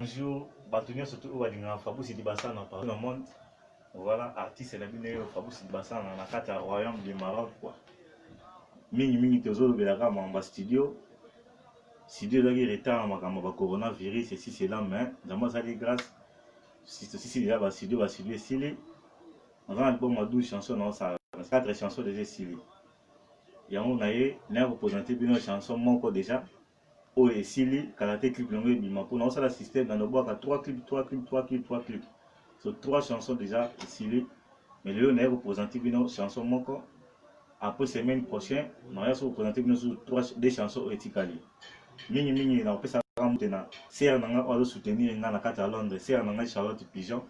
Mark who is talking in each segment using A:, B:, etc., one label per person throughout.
A: Bonjour batu nionso tout oyo balingaka Fabrice Dibasana partout na monde voilà artiste na bino yo Fabrice Dibasana na kati ya royaume de Maroc quoi mingi mingi tozolobela kaka makambo ya studio studio ezalaki retard na makambo ya coronavirus esi cela mais nzambe asali grâce tosisi deja bastudio bastudio esili naza na album ya 12 chanson naosala 4 chanson deja esili yango na ye naya kopresente bino chanson moko deja oyo esili kala te clip yango ebima mpo naosala système na nobwaka 3 clip 3 clip 3 clip 3 clip so 3 chanson déjà esili mais lelo naye kopresente bino chanson moko après semaine prochain naoya so kopresente bino susu 3 de chanson oyo etikali mingi mingi nakopesa kaka mute na sere na ngai oyo azosoutenir ngai na kati ya londres sere na ngai charlotte pigeon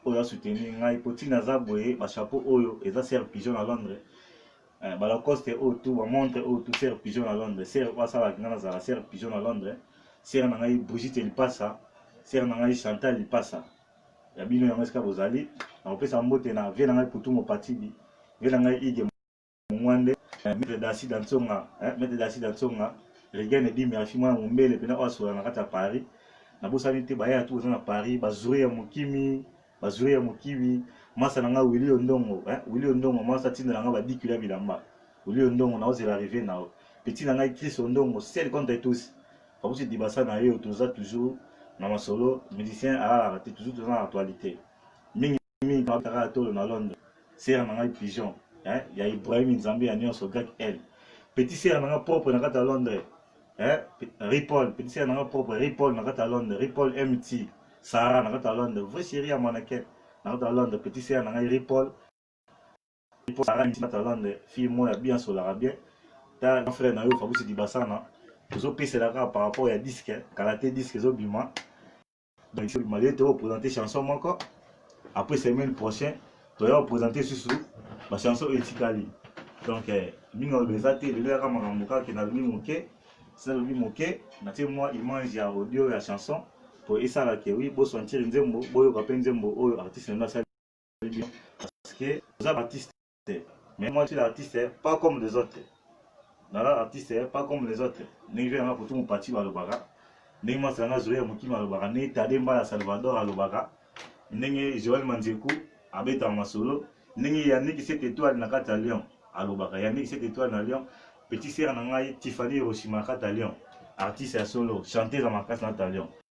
A: oyo asoutenir ngai mpo ntina aza boye bachapeau oyo eza sere pigeon na londres Eh, ba Lacoste oyo tout ba montre oyo tout serre pigeon na Londres serre oyo asalaki nga nazala serre pigeon na Londres serre na ngai Brigitte Lipasa serre na ngai Chantal Lipasa ya bino yango esika bozali nakopesa mbote na vie na ngai Putumo Patidi vie na ngai Ige Mungwande eh, maître Dasi Dansonga eh, maître Dasi Dansonga Regan Ebimi afi mwana mombele pena oyo asola na kati ya Paris nabosani te bayaya tu boza na Paris bazuri ya mokimi Bazuri ya mokibi, masta na nga Willy Ondongo eh, Willy Ondongo masta atindela nga ba 10 kilo ya bilamba Willy Ondongo naozela arrivee na yo Petit na ngai Chris Ondongo seul contre tous Fabrice Dibasa na yo toza toujours na masolo musicien alalaka te toujours toza na actualité mingi mingi nabetaka ya tolo na Londres sera na ngai pigeon eh, ya Ibrahim Nzambe ya nyonso grec L Petit sera na nga propre na kati ya Londres eh, Ripoll, petit sœur nanga propre, Ripoll na kata Londres, Ripoll MT, Sarah na kata Londres, vrai chérie ya mannequin na kata Londres, petit sœur nanga Ripoll, Ripoll Sarah MT na kata Londres, fille moya bien solaka bien, ta grand frère na yo Fabrice Dibasana, ozo pesela kaka par rapport ya disque, kala te disque ezo bima, Donc sur Malgré to présenter chanson moko après semaine prochaine to ya présenter susu ba chanson etikali. Donc eh, mingi olobi eza te lelo yaka makambo kaka na lobi moke sina lobi moke na tie mwa image ya audio ya chanson po esala ke oui bo sentir nzembo boyoka pe nzembo oyo artiste na asali bien parce que oza artiste te mais moi je suis l'artiste pas comme les autres nala artiste pas comme les autres ndenge mpe nanga kutu mopati balobaka ndenge mwasi nanga zoya mokima alobaka ndenge tade mbala salvador alobaka ndenge joel manzeku abetaka masolo ndenge yannick cette étoile na kati ya lyon alobaka yannick cette étoile na lyon petit sere na ngai tiffany hiroshima na kati ya lyon artiste ya solo chanteuse ya makasi na kati ya lyon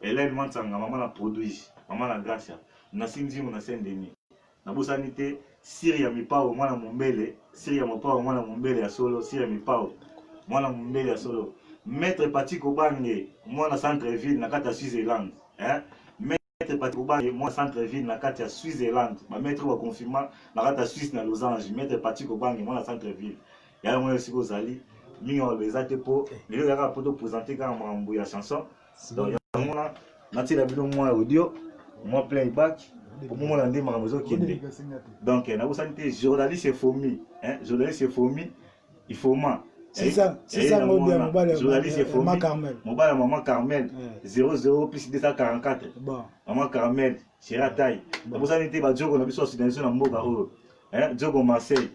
A: Helène Mansanga, mama na produits, mama na Gracia, Nancy Nzimu na Saint Denis. Nabosani te Syria Mipao mwana Mombele, Syria Mopao mwana Mombele ya solo, Syria Mipao mwana Mombele ya solo. Maître Patrick Obange, mwana centre ville na kati ya Switzerland. Hein? Maître Patrick Obange, mwana centre ville na kati ya Switzerland. Ba maître ba confirma na kati ya Suisse na Losange. Maître Patrick Obange, mwana centre ville. yaya mwana esika ozali mingi ya maloba eza te mpo lelo yaka mpo topresente kaka makambo ya chanson donc yango wana natyela bino mwa audio mwa playback omomona nde makambo ezokende donc eh, nabosani te journaliste efomi eh, journaliste efomi ifoma mobali ya mama carmel 00 plus 244 mama carmel cheratai nabosani te bajoko na biso ya sudanise na mboka oyo hein Djogo Marseille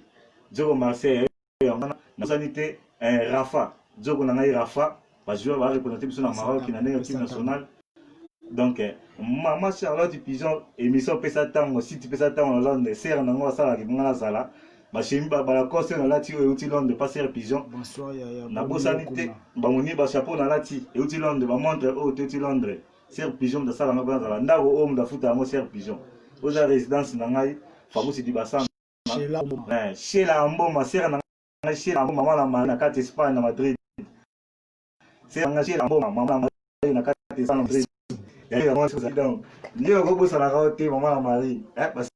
A: Djogo Marseille eh, yango wana nazani te hein Rafa Djogo na ngai Rafa ba joueurs ba représenter biso na Maroc na ndenge team nationale donc eh, mama Charlotte Pigeon émission pesa tango site pesa tango na Londres sœur na ngai asala kibunga na zala bashemi balacoste oyo nalati oyo euti londre passer pigeon
B: nabosani te
A: bamoni bachapeau nalati euti londre bamontre oyo teuti londre Sœur Pigeon moto asala ngai mpo nazala ndako oyo moto afuta yango Sœur Pigeon oyo eza résidence na ngai Fabrice Dibasana eh, Shela Amboma sœur na ngai Shela Amboma mwana mari na kati Espagne na Madrid sœur na ngai Shela Amboma mama na mari na kati Espagne na Madrid yango yango donc ndio okobosanaka te mama na mari eh,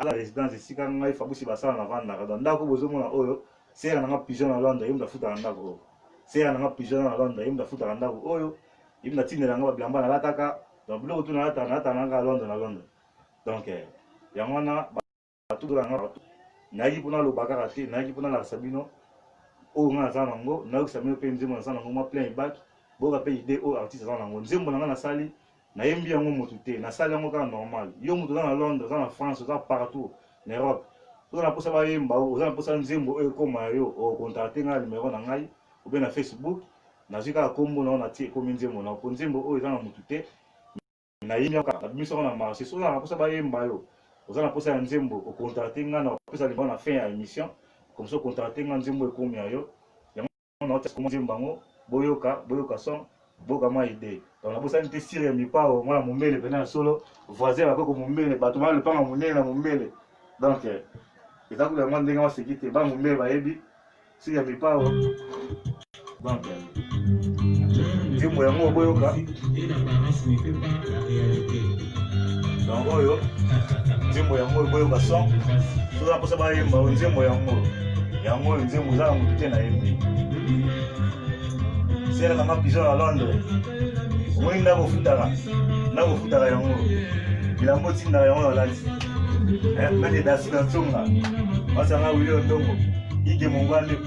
A: ala residence esika ngai fabusi basala na vandaka donc ndako bozomona oyo sera nanga pigeon na londres yemda futaka ndako oyo sera nanga pigeon na londres yemda futaka ndako oyo yemda tindela nga babilamba nalataka donc biloko tu nalataka nalataka nanga londres na londres donc eh, yango wana batutola nga partout nayaki mpona loba kaka te nayaki mpona lakisa bino oyo nga naza nango nayokisa bino mpe nzembo naza nango mwa plein ebaki boyoka mpe idee oyo artiste aza nango nzembo na nga nasali Nayembi yango mutu te, nasali yango kaka normal. Yo mutu oza na Londres, oza na France, oza partout na Europe. Oza na posa bayemba yo, oza na posa nzembo oyo ekoma ya yo, o contacter ngai na numero na ngai ou bien na Facebook. Nazwi kaka kombo na yo natie ekomi nzembo na yo. Po nzembo oyo eza na mutu te. Nayembi yango kaka, nabimisi yango na marche. Soki oza na posa bayemba yo, oza na posa ya nzembo, o contacter ngai, nakopesa numero na fin ya emission. Comme ça o contacter ngai, nzembo oyo ekomi ya yo. na otia komo nzembo yango boyoka boyoka son boka mwa ide donc nabosani te sire ya mipao mwana mombele mpena ya solo voisin ya bakoko mombele bato bana lopanga monene na mombele donc eh, eza kuta mwa ndenge maseki te bana mombele bayebi sire ya mipao donc eh, nzembo yango boyoka yango oyo nzembo yango oyo boyoka son toza mposa bayemba oyo nzembo yango yango oyo nzembo eza na motu te nayembi sere nanga pizo na londres omoni ndako ofutaka ndako ofutaka yango bilambo otindaka yango nalati eh, mede dasi na ntonga masanga wili ondongo ige mongande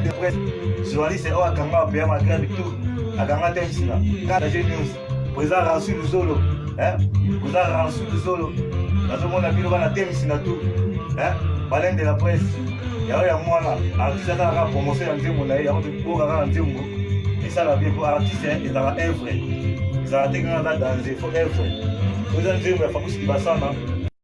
A: de presse journaliste oyo akanga apeya magrève tout akanga te nsina kaka je news président ransu luzolo président ransu luzolo nazomona bino bana te nsina tout baleine de la presse yango ya mwana artiste asala kaka promotion ya nzembo na ye yango tokoka kaka nzembo esala bien po artiste ezala evre ezala te kaka aza danze fo evre oza nzembo ya fakusi libasana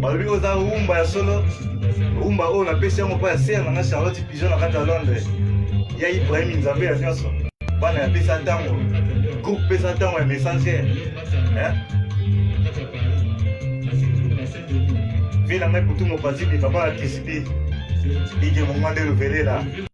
A: balobi oza rumba ya solo rumba oyo napesi yango mpo ya ser nanga charlotte pigeon na kati ya londres ya ibrahim nzambe ya nyonso bana ya pesa ntango groupe pesa ntango ya messager vila ngai kutu mopazidi papa ya kisbi ige mongwande lovelela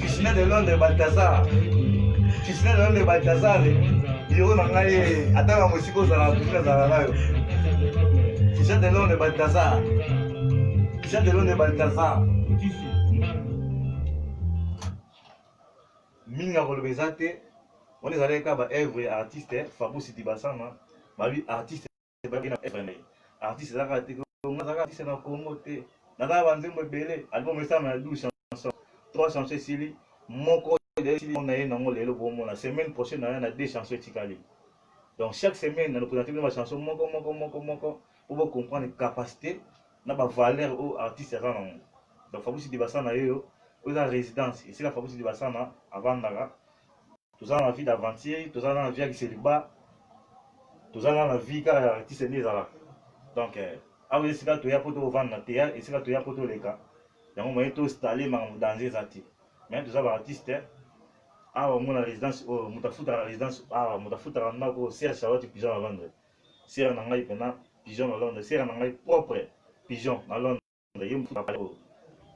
A: Krishna de Londres Balthazar Krishna de Londres Balthazar biro na ngai ata na mosika ozala kutu nazala nayo Krishna de Londres Balthazar Krishna de Londres Balthazar mingi ya koloba eza te wana ezalaki kaka baevre ya artiste fabusi dibasana babi artiste ebaki na FMI artiste eza kaka te nga azaka artiste na Congo te naza na banzembo ebele album esama ya 12 chanson 3 chanson esili moko na ye nango lelo bomona semaine prochaine naya na 2 chanson etikali donc chaque semaine na représente bino bachanson moko moko moko moko po bocomprendre capacité na bavaleur oyo artiste aza nango donc fabusi dibasana yeyo oyo eza résidence esika fabusi dibasana avandaka toza na vie d'aventure toza na vie ya kiseliba toza na vie kaka ya artiste nde ezalaka donc eh, awa esika toya mpo tovanda na teya esika toya mpo toleka yango moye tostale makambo danze eza te mais toza baartiste eh. awa omona résidence oyo oh, moto afutaka résidence awa ah, moto afutaka ndako oyo serge charlotte pigeon na londres sere na ngai mpena pigeon na londres sere na ngai propre pigeon na londres yo mutu na pale oyo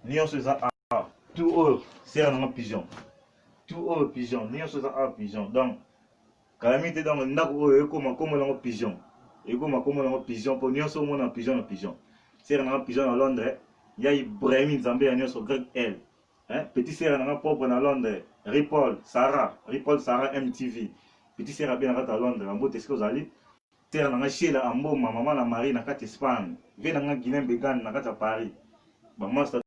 A: nionso eza awa tout oyo sera na nga pigeon tout oyo pigeon nionso eza awa pigeon donc kalamite donc ndako oyo ekoma kombo nango pigeon ekoma kombo nango pigeon mpo nionso omona pigeon na pigeon sera na nga pigeon na londres ya ibrahimi nzambe ya nionso greg l hein? petit sera na nga propre na londres ripaul sarah ripaul sarah mtv petit sera abenaka ta londres na mbote esika ozali Terre na nga Sheila Amboma, maman na Marie na kati Espagne, vie na nga Guylain Begane na kati ya Paris, ba masta.